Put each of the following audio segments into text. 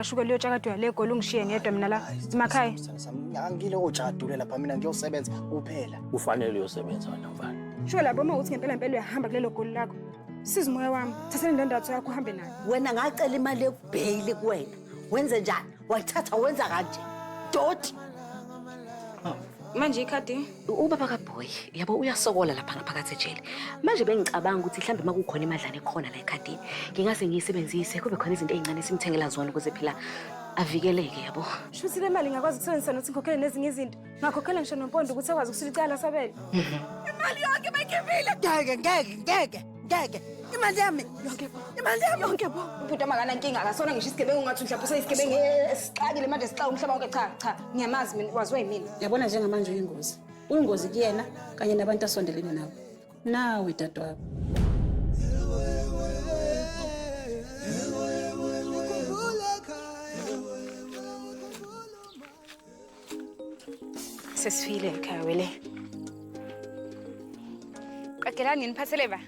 Ashuke liyo tshakadwa le goli ungishiye ngedwa mina la. Simakhaya. Ngangile ojadule lapha mina ngiyosebenza kuphela. Kufanele uyosebenza wena mfana. Shuke lapho uma uthi ngempela ngempela uyahamba kulelo goli lakho. Sizi moya wami, thatha indandatho yakho uhambe nayo. Wena ngacela imali yokubheyili kuwena. Wenze njani? Wayithatha wenza kanje. Doti. Manje ikhadi Ubaba kaBoy yabo uyasokola lapha ngaphakathi ejele. Manje bengicabanga ukuthi mhlambe uma kukhona imadlana ekhona la ekhadini ngingase ngiyisebenzise kube khona izinto ezincane simthengela zona ukuze phela avikeleke yabo. Shuthi le mali ngakwazi ukusebenzisa nokuthi ngikhokhele nezinye izinto. Ngakhokhela ngisho nompondo ukuthi akwazi ukusula icala asabele. Imali yonke bayikhiphile. Ngeke ngeke ngeke. ngeke imali yami yonke bo imali yami yonke bo ubhuti amakanankinga akasona ngisho isigebengu ungathi mhlawumbe useyisigebengu esixakile manje sixaka umhlaba wonke cha cha ngiyamazi mina waziwa yimina yabona njengamanje uyingozi uyingozi kuyena kanye nabantu asondelene nabo nawe dadewabo Sesifile ekhaya wele. Qagelani niphathele ba.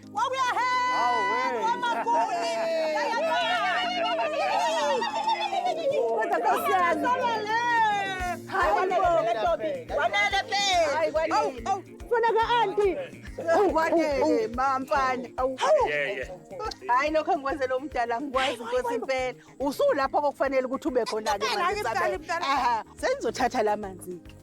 Ngwanele mamfana. Awu. Yeah, yeah. Hayi lokho engikwenzela umdala ngikwazi inkosi impela. usulapho kokufanele ukuthi ube khona-ke Ngempela, manje, ngempela, Isabel. ngempela. Aha, sengizothatha la manzi-ke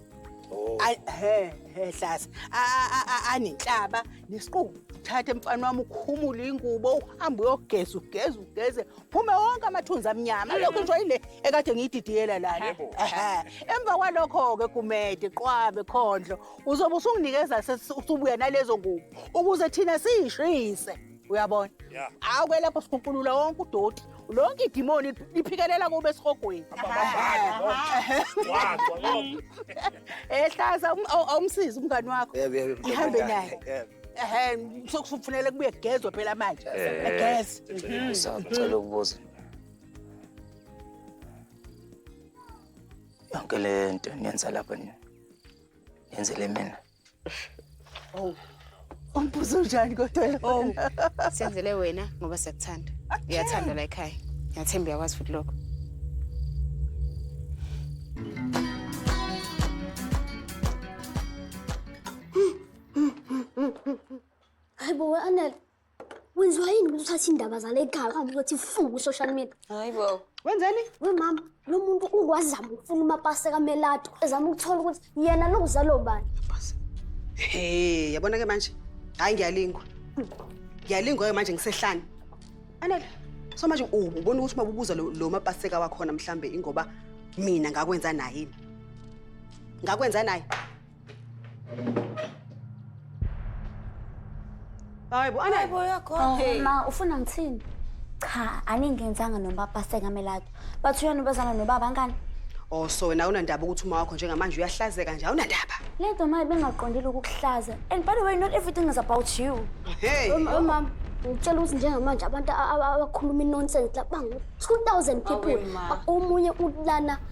Oh. Ay- he he hlasa A- a- a- a- anenhlaba nesiqubu thathe mfana wami ukhumule ingubo uhambe uyogeza ugeze ugeze phume wonke amathunzi amnyama lokho nje yile ekade ngiyididiyela lana Yebo. Ehhe. emva kwalokho-ke kumede qwabe khondlo uzobe usunginikeza sesi- usubuya nalezo ngubo ukuze thina siyishise uyabona Yeah. hawu ke lapho sikhunkulula wonke udoti lonke idimoni liphikelela kube esihogweni ehlaza awumsizi umngani wakho Yebo, yebo, mfowethu, Ihambe ngane. naye. Yebo. ehe sokufunele kubuye kugezwe phela manje Eh. egeze Ngicela ukubuza. Yonke le nto niyenza lapha ni. Yenzele mina. Oh. Umbuzo njani kodwa Oh, lona? senzele wena ngoba siyakuthanda. Uyathanda la ekhaya. Ngiyathemba uyakwazi futhi lokho. Hayi bo we Anel, Wenziwa yini ukuthi uthathe indaba zale ekhaya uhambe uyothi fu ku-social media? Hayi bo. Wenzeni? We mama, lo muntu ungwazama ukufuna umapase kamelato ezama ukuthola ukuthi yena longizalo bani. Hey, yabona ke manje. Hayi ngiyalingwa. Ngiyalingwa ke manje ngisehlane. Anele. So manje ubona ukuthi uma ubuza lo lo mapaseka wakhona mhlambe ingoba mina ngakwenza naye. Ngakwenza naye. Hayi bo, ana Hayibo yakho. Oh, Hey. ma ufuna ngithini cha aningenzanga nobaba sengamelado bathi uyona ubezana nobaba ngani Oh so wena unandaba ukuthi uma wakho njengamanje uyahlazeka nje awunandaba. le nto maye bengaqondile ukukuhlaza and by the way not everything is about you Hey. Mama, ngicela ukuthi njengamanje abantu a- a- abakhuluma inonsense la bangu 2000 people. Awe, ma. Omunye ulana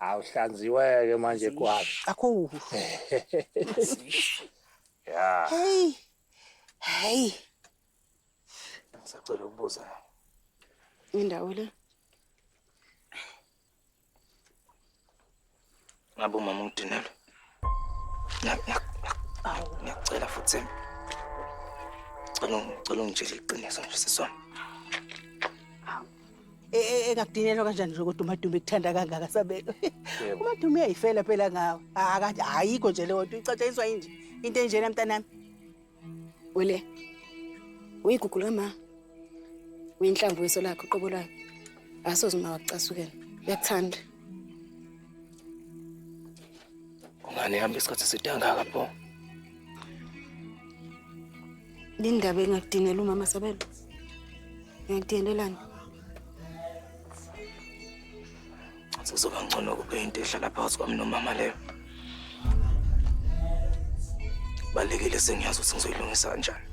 Awuhlanziwe-ke manje kwabi. Akho. Ya. Hey. Hey. Sacela ukubuza. Indawo le. Ngabe umama ungidinelwe. Ngiyacela futhi cela cela ungitshele iqiniso nje sisona. E, e, engakudinelwa kanjani nje kodwa umadume kuthanda kangaka sabelo umadume uyayifela phela ngawe ayikho nje leyo nto icatshaniswa yinje into enjena mntanami Wele. Uyigugu lama. Uyinhlamvu weso lakho qobo lakho. Asoze uma wakucasukela. Uyakuthanda. Ungane hamba isikhathi sidangaka pho. Lindaba engakudinela umama Sabelo. Ngiyakudinelelana. Sekuzoba ngcono kube into ehlala phakathi kwami nomama leyo. Balekile sengiyazi ukuthi ngizoyilungisa kanjani.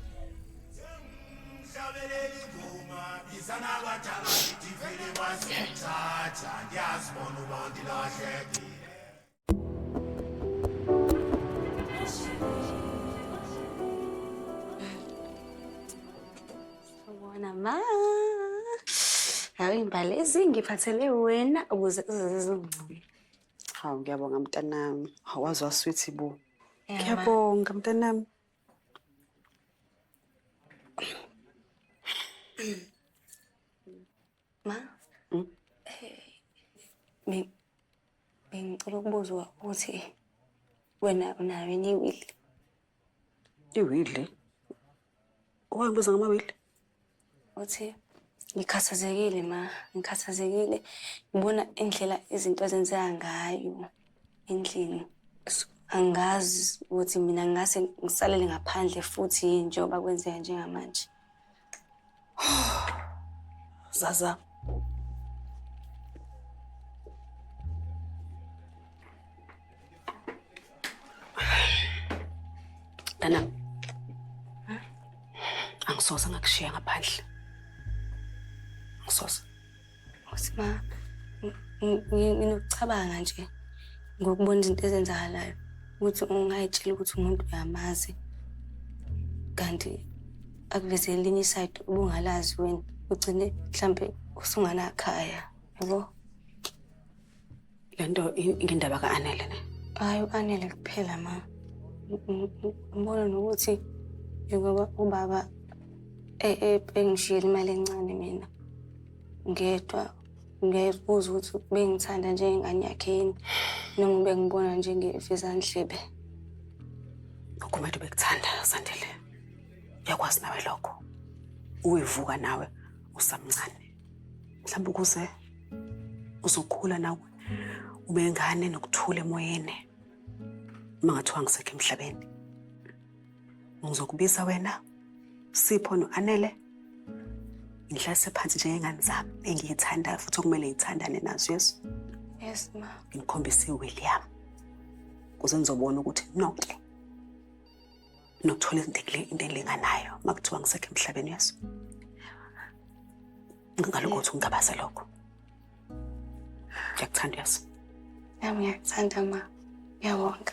Yeah. Sawubona ma. Hawu imbali ezingiphathele wena ukuze uzizungcome. Hawu ngiyabonga mntanami. Hawu waze waswithi bo. Ngiyabonga mntanami. Ma, Hmm? be- bengicela ukubuza ukuthi wena unayo yini iwili? Iwili? Owayibuza ngamawili? Uthi ngikhathazekile ma, ngikhathazekile ngibona indlela izinto ezenzeka ngayo endlini. So, Angazi ukuthi mina ngase ngisalele ngaphandle futhi yini njengoba kwenzeka njengamanje. Zaza. Dana. Angisoze ngakushiya ngaphandle. Angisoze. Futhi ma nginokucabanga nje ngokubona izinto ezenzakalayo ukuthi ungayitshela ukuthi umuntu uyamazi kanti akuveze elinye isayidi ubungalazi wena ugcine mhlampe usunganakhaya yabo Le nto ngendaba ka-Anele ne? Hhayi u-Anele kuphela ma. Ngibona nokuthi njengoba ubaba e, e, engishiyela imali encane mina ngedwa ngiyazibuza ukuthi bengithanda njengengane yakhe yini noma bengibona njengevizandlebe ugumedo bekuthanda sandile uyakwazi nawe lokho uyivuka nawe usamncane mhlawumbe ukuze uzokhula nawe ube ngane nokuthula emoyeni uma ngathiwa ngisekho emhlabeni ngizokubiza wena sipho no-anele ngihlase phansi njengengane zami engiyithandayo futhi okumele ngithandane nazo yesu yes ma ngikhombise iwili yami kuze ngizobona ukuthi nonke nokuthola into elinganayo uma kuthiwa ngisekho emhlabeni yeso ngaloko ukuthi ungabaze lokho ngiyakuthanda yeso yami ngiyakuthanda ma uyawonga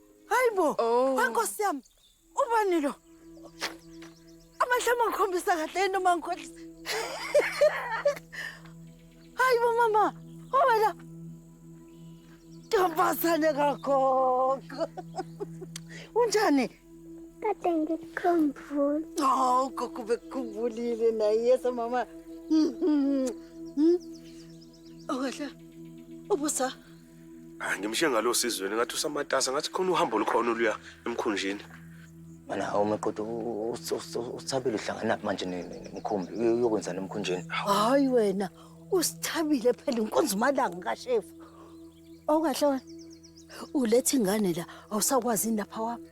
Hayibo. Oh. Nkosi yami. Ubani lo? Amehlo mangikhombisa kahle into mangikhohlisa. Hayibo mama. Wena. Ntombazane kagogo. Unjani? Kade ngikukhumbule. Oh, gogo bekukhumbulile naye yesa mama. Okahle. Ubusa. Ah, ngimshiye ngalo sizweni ngathi usamatasa ngathi khona uhambo olukhona oluya emkhunjini. Mana hawu maqodo usithabile uhlangana naphi manje nemkhumbi uyokwenzana emkhunjini. Hayi wena usithabile phela inkonzo umalanga kashefu. Awukahle wena. Ulethe ingane la awusakwazi lapha wapha.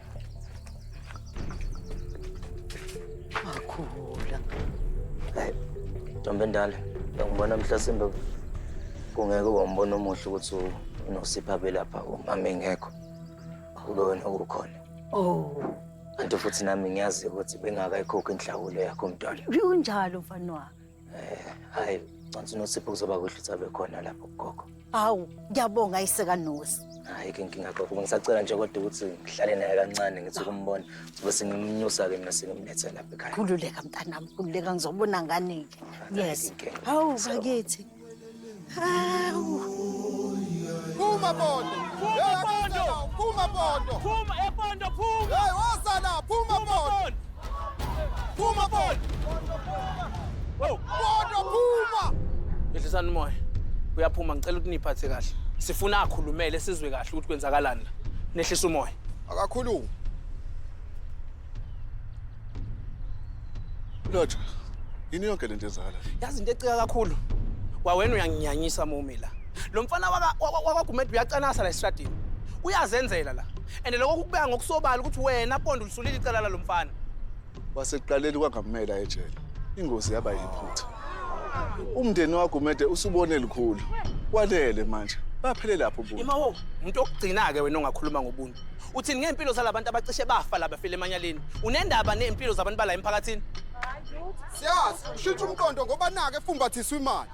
Makhula. Hey, ntombi endala, ngibona mhlasimbe kungeke wambona omuhle ukuthi unosipha belapha umama engekho. Kube wena ukhona. Oh. Kanti futhi nami ngiyazi ukuthi bengakayikhokhi inhlawulo yakho mntwana. Kunjalo mfana wami. Hayi, ngicela uNosipho kuzoba kuhle ukuthi abe khona lapho kugogo. Awu, ngiyabonga ayiseka Nosi. Hayi ke inkinga gogo, ngisacela nje kodwa ukuthi ngihlale naye kancane ngithi ukumbona. Sibe singimnyusa ke mina sengimlethe lapha ekhaya. Khululeka mntanami, khululeka ngizobona ngane-ke. Yes. Inkinga. Hawu bakithi. Phuma Pondo. Phuma Pondo. Phuma Pondo. Phuma ePondo phuma. Hey wasala phuma Pondo. Phuma Pondo. Oh, Pondo phuma. Ehlisani umoya. Uyaphuma ngicela ukuthi niphathe kahle. Sifuna akhulumele sizwe kahle ukuthi kwenzakalani la. Nehlisa umoya. Akakhulumi. Lotha, yini yonke lento ezala? Yazi into ecika kakhulu. Kwawena uyanginyanyisa mumi la. Lo mfana wakwaGumede uyacanasa la esitradini. Uyazenzela la. And lokho kukubeka ngokusobala ukuthi wena Pondo ulisulile icala lalo mfana. Wasekuqaleni kwangamela ejele. Ingozi yaba yiphutha. Umndeni wakwaGumede usubone likhulu. Kwanele manje. Baphele lapho ubuntu. Imawo, umuntu okugcina ke wena ongakhuluma ngobuntu. uthini ngey'mpilo zalabantu abacishe bafa la befile emanyaleni unendaba ney'mpilo zabantu bala emphakathini siyazi ushintsha umqondo ngoba nake efumbathiswa imali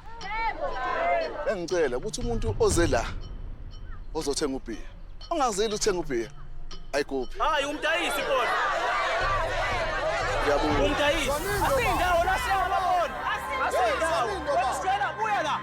engicela ukuthi umuntu oze la ozothenga ubhiya ongazeli uthenga ubhiya ayikuphi hayi umdayisi bona ngiyabonga umdayisi asindawo la siyabona asindawo Hey, Salindo, ba. Sicela buya la.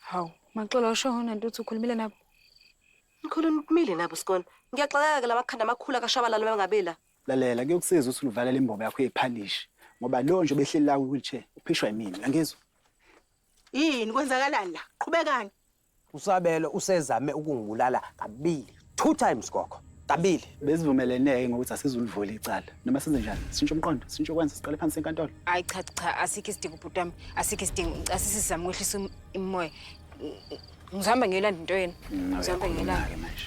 Hawu, Maxola usho hona ntuthu ukhulumile nabo. Ngikhuluma uphumile nabo sikona. Ngiyaxakeka ke lamakhanda amakhulu akashabalala bangabela. Lalela kuyokusiza ukuthi ulivalele imbobo yakho yephalishi ngoba lo nje obehleli la kwi-wheelchair uphishwa yimina. Uyangizwa? Yini kwenzakalani la? Qhubekani. Usabelo usezame ukungibulala kabili. Two times gogo. Kabili. Besivumelene-ke ngokuthi asizulivula icala. Noma senze njani? Sintshe umqondo, sintshe ukwenza siqale phansi enkantolo. Hayi cha cha asikho isidingo bhuti wami. Asikho isidingo. Ngicela sizame ukwehlisa um- umoya. Ngizihamba ngiyolanda into yenu. Ngizihamba ngiyolanda. Uyakhuluma-ke manje.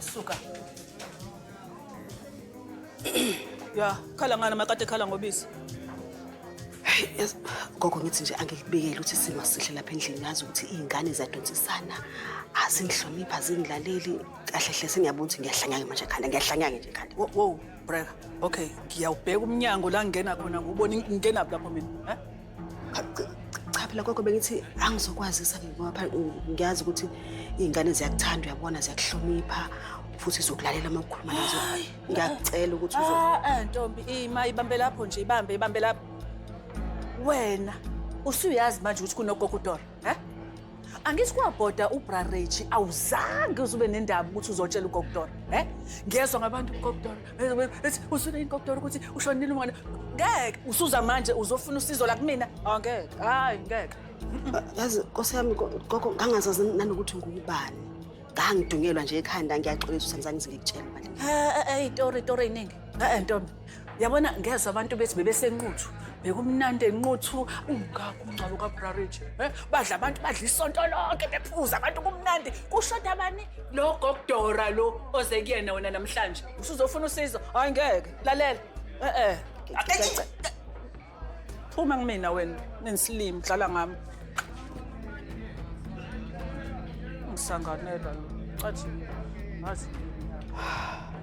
Suka. ya, khala ngani makade khala ngobisi. Yes, gogo ngithi nje angikubekele ukuthi isimo sihle lapha endlini ngazi ukuthi iy'ngane ziyadonsisana azingihloniphi azingilaleli kahle hle sengiyabona ukuthi ngiyahlanyake manje khanda ngiyahlanyake nje khanda Wo- Wow, breka. Okay, ngiyawubheka umnyango la ngingena khona ngubona ngingenaphi lapho mina. Eh? cha phela gogo bengithi angizokwazisa ngoba ngiyazi ukuthi iy'ngane ziyakuthanda uyabona ziyakuhlonipha futhi zokulalela uma ukhuluma nazo ngiyakucela ukuthi uzo ah, ah, ntombi ima ibambe lapho nje ibambe ibambe lapho wena usuyazi manje ukuthi kunogogo udora um Angithi kwabhoda ubra Rechi awuzange uzube nendaba ukuthi uzotshela uGokdor. Eh? Ngiyezwa ngabantu uGokdor. Ethi usule iGokdor ukuthi ushonile umona. Ngeke usuza manje uzofuna usizo la kumina. Angeke. Ah, Hayi ngeke. Yazi Nkosi yami gogo ngangazazi nanokuthi ngubani. Ngangidungelwa nje ekhanda ngiyaxolisa uSamzangizi ngikutshela manje. Eh eh eh itori itori iningi. Eh ntombi, yabona ngezwe abantu bethi bebesenquthu. Bekumnandi enquthu ungakho umngcwabo kaBrarage. Eh badla abantu badla isonto lonke bephuza abantu kumnandi. Kushoda bani? Lo gokudora lo oze kuyena wena namhlanje. Usuzofuna usizo? Hayi ngeke. Lalela. Eh eh. phuma kumina wena nensilimi dlala ngami ngisanganela lo cathi ngazi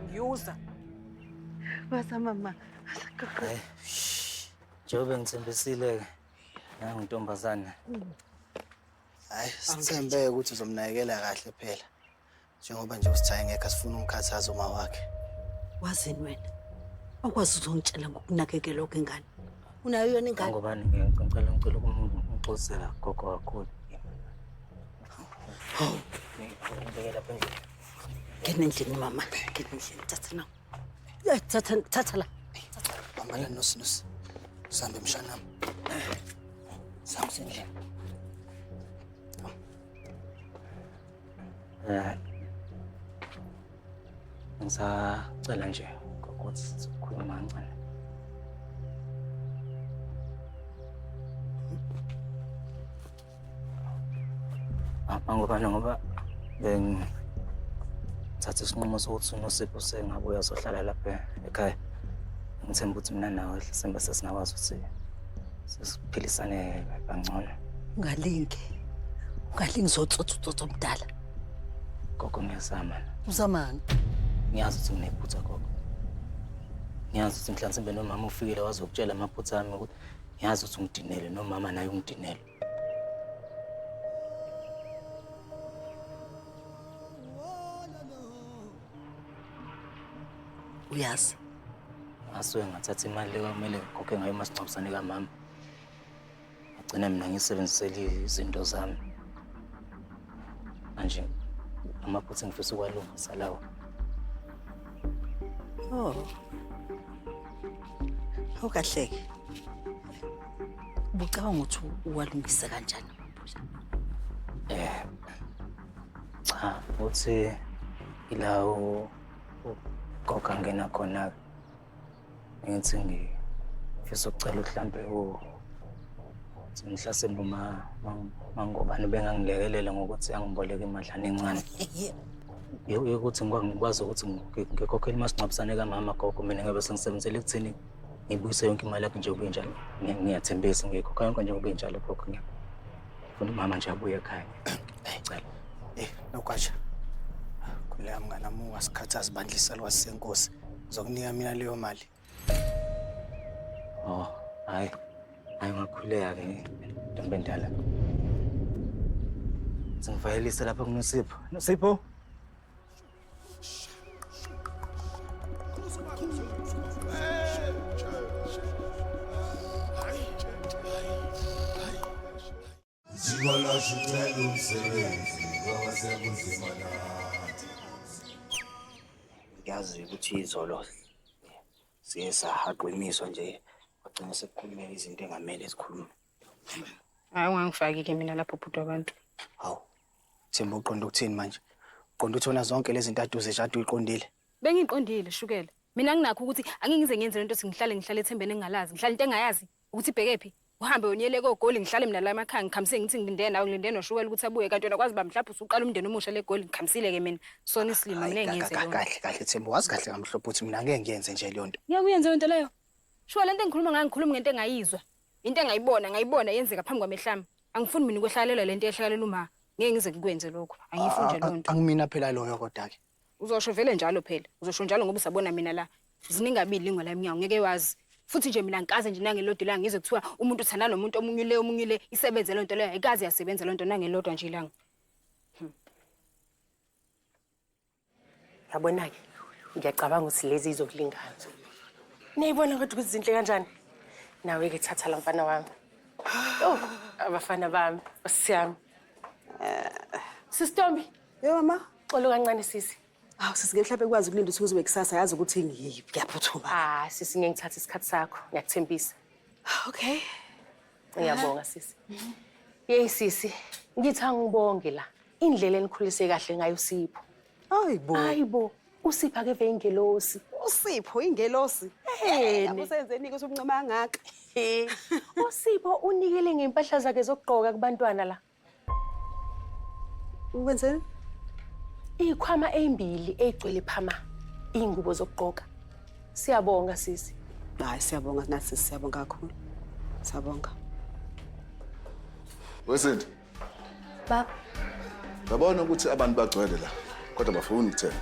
ngiyuza basa mama Hayi, shh, njengoba ngithembisile-ke nangu ntombazane hayi sithembe ukuthi uzomnakekela kahle phela Njengoba nje usithaye ngekho asifuna umkhathaza uma wakhe. Wazini wena? Awukwazi uzongitshela ngokunakekelwa kwengane. Unayo yona ingane? Ngobani ngicela ngicela ukumxosela gogo kakhulu. Hawu. Ngibeke lapha endlini. Ngena endlini mama, ngena endlini thatha na. Ya thatha thatha la. Bamba la nosi nosi. Sambe mshanam. Sambe endlini. Ngisacela nje ukuthi sizokhuluma kancane. Apha ngoba ngoba bengithatha isinqumo sokuthi uNosipho sengabe uyazohlala lapha ekhaya. Ngithemba ukuthi mina nawe Hlisembe sesingakwazi ukuthi sesiphilisane kangcono ungalingi ungalingi zotsotsotsotso mdala gogo ngiyazama uzamani ngiyazi ukuthi nginephutha gogo ngiyazi ukuthi mhlansimbe nomama ufikile wazokutshela amaphutha ami ukuthi ngiyazi ukuthi ungidinele nomama naye ungidinele uyazi ngasuke ngathatha imali le kwakumele ngikhokhe ngayo umasingcwabisane kamama ngagcina mina ngisebenzisele izinto zami manje amaphutha engifisa ukwalungisa lawo oh awukahleke ubucabanga ukuthi uwalungise kanjani amaphutha um eh, Cha, uthi ila ugoga ngena khona-ke. Ngithi ngifisa ukucela mhlampe u mhlasimbe uma mangobani bengangilekelela ngokuthi angiboleke imadlana encane. Yokuthi ngikwazi ukuthi ngikhokhele umasingcwabisane kamama gogo mina ngiyobe sengisebenzela ekutheni ngibuyise yonke imali yakhe njengoba injalo. Ngiyathembisa ngiyikhokha yonke njengoba injalo gogo. Funa umama nje abuye ekhaya. Ngicela. Eh, nokwasha. Khuleka mngane wami ungasikhathi azibandla isalwazi senkosi. Ngizokunika mina leyo mali. Oh, hayi. Hayi ngakhuleka ke ntombi endala. Sengivayelise lapha kuNosipho. Nosipho? Zikwalasha ucela umsebenzi ngoba sekunzima nathi. Ngiyazi ukuthi izolo siye sahaqiniswa nje kwagcina sekukhulumela izinto engamele zikhulume. Hayi ungangifaki-ke mina lapho bhuti wabantu. Hawu. Themba uqonda ukuthini manje? Uqonda uthona zonke lezi nto aduze nje ade uyiqondile. Bengiqondile shukela. Mina nginakho ukuthi angingize ngiyenze lento ukuthi ngihlale ngihlale ethembeni engingalazi. Ngihlale into engayazi ukuthi ibheke phi. Uhambe yonyele kogoli ngihlale mina la emakhaya ngikhamisile ngithi ngilindele nawe ngilindele noshukela ukuthi abuye kanti wena kwazi ba mhlawumbe usuqala umndeni omusha le goli ngikhamisile ke mina. Sona isilima mina engiyenze lento. Kahle kahle Themba wazi kahle ngamhlophe ukuthi mina ngeke ngiyenze nje leyo nto. Ngeke uyenze lento leyo. Shukela lento engikhuluma ngayo ngikhuluma ngento engayizwa. Into engayibona ngayibona yenzeka phambi kwamehlami. Angifuni mina ukwehlakalelwa lento ehlakalelwa uma. Ngeke ngize ngikwenze lokho. Angiyifuni nje lonto. Angimina phela loyo kodwa ke. Uzosho vele njalo phela. Uzosho njalo ngoba usabona mina la. Ziningabili lingwa la emnyango ngeke wazi. Futhi nje mina ngikaze nje nangelodwa ilanga ngizwe kuthiwa umuntu uthanda nomuntu omunye le omunye le isebenze lento leyo ayikaze yasebenza lento nangelodwa nje ilanga. yabona-ke ngiyacabanga ukuthi lezi izokulingana niyayibona kodwa ukuthi zinhle kanjani nawe-ke thatha la mfana wami oh abafana bami osiyami sisitombi Yo mama. xolo kancane sisi Awu sisi ke mhlawumbe kwazi ukulinda ukuthi uzobe kusasa yazi ukuthi ngiyiphi kuyaphuthuma. ah sisi ngeke ngithathe isikhathi sakho ngiyakuthembisa Okay. Ngiyabonga sisi. Yeyi sisi, ngithi angibonge la. Indlela enikhulise kahle ngayo Sipho. Hayibo. Hayibo, uSipho akeve ingelosi. USipho ingelosi. Eheni. Usenzeni ukuthi umncoma kangaka? Usipho unikele ngempahla zakhe zokugqoka kubantwana la. Wenzeni? Ikhwama ezimbili ezigcwele phama ingubo zokugqoka. Siyabonga sisi. Hayi siyabonga nathi siyabonga kakhulu. Siyabonga. Wesinto. Baba. Babona ukuthi abantu bagcwele la kodwa bafuna ukuthenga.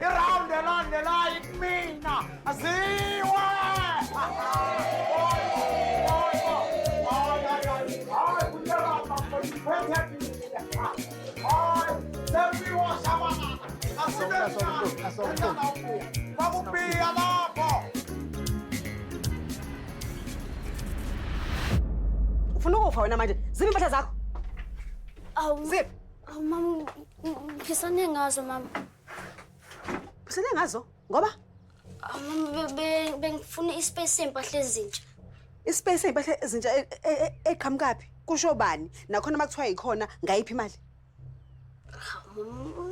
Iround elandelayo ikumina aziwe Bakupia lapho ufuna ukufa wena manje ziphi impahla zakho Awu, ziphi awu mama, ngisane ngazo mama. Usele ngazo ngoba bengifuna ispace sempahla ezintsha. Ispace sempahla ezintsha e, e, e, eqhamukaphi? Kusho bani? Nakhona makuthiwa yikhona ngayiphi imali?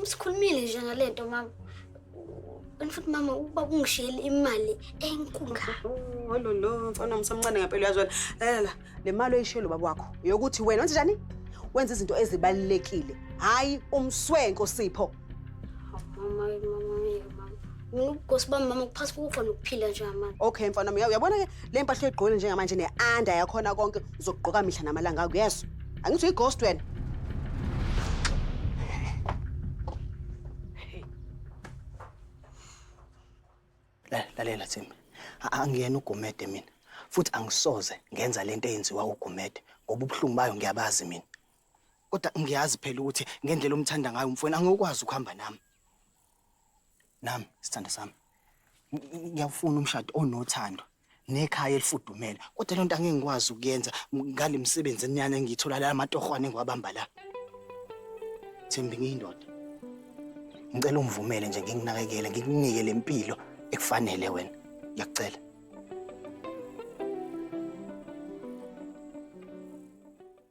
Sikhulumile nje ngalento mama. Kanti futhi mama ukuba kungishiyele imali enkulu. Hololo, mfana msamncane ngempela uyazwela. Lalela. Le mali oyishiye lo baba wakho yokuthi wena wenze njani? Wenza izinto ezibalulekile, hhayi umswenko Sipho. Mama, mama, mama. Ngokugosi bami mama kuphasi kokufa nokuphila nje mama. Okay mfana wami, uyabona ke le mpahla oyigqokile njengamanje ne-anda yakhona konke uzokugqoka mihla namalanga akho, yes. Angithi uyi-ghost wena. La- lalela thimi A- angiyena ugumede mina futhi angisoze ngenza lento eyenziwa ugumede ngoba ubuhlungu bayo ngiyabazi mina kodwa ngiyazi phela ukuthi ngendlela omthanda ngayo umfweni angikwazi ukuhamba nami nami sithanda sami Ng- ngiyawufuna umshado onothando nekhaya elifudumele kodwa lento angeke ngikwazi ukuyenza ngale misebenzi enyana engiyithola la amatohwane engiwabamba la Thembi ngiyindoda ngicela ungivumele nje nginginakekele ngikunike lempilo ekufanele wena ngiyakucela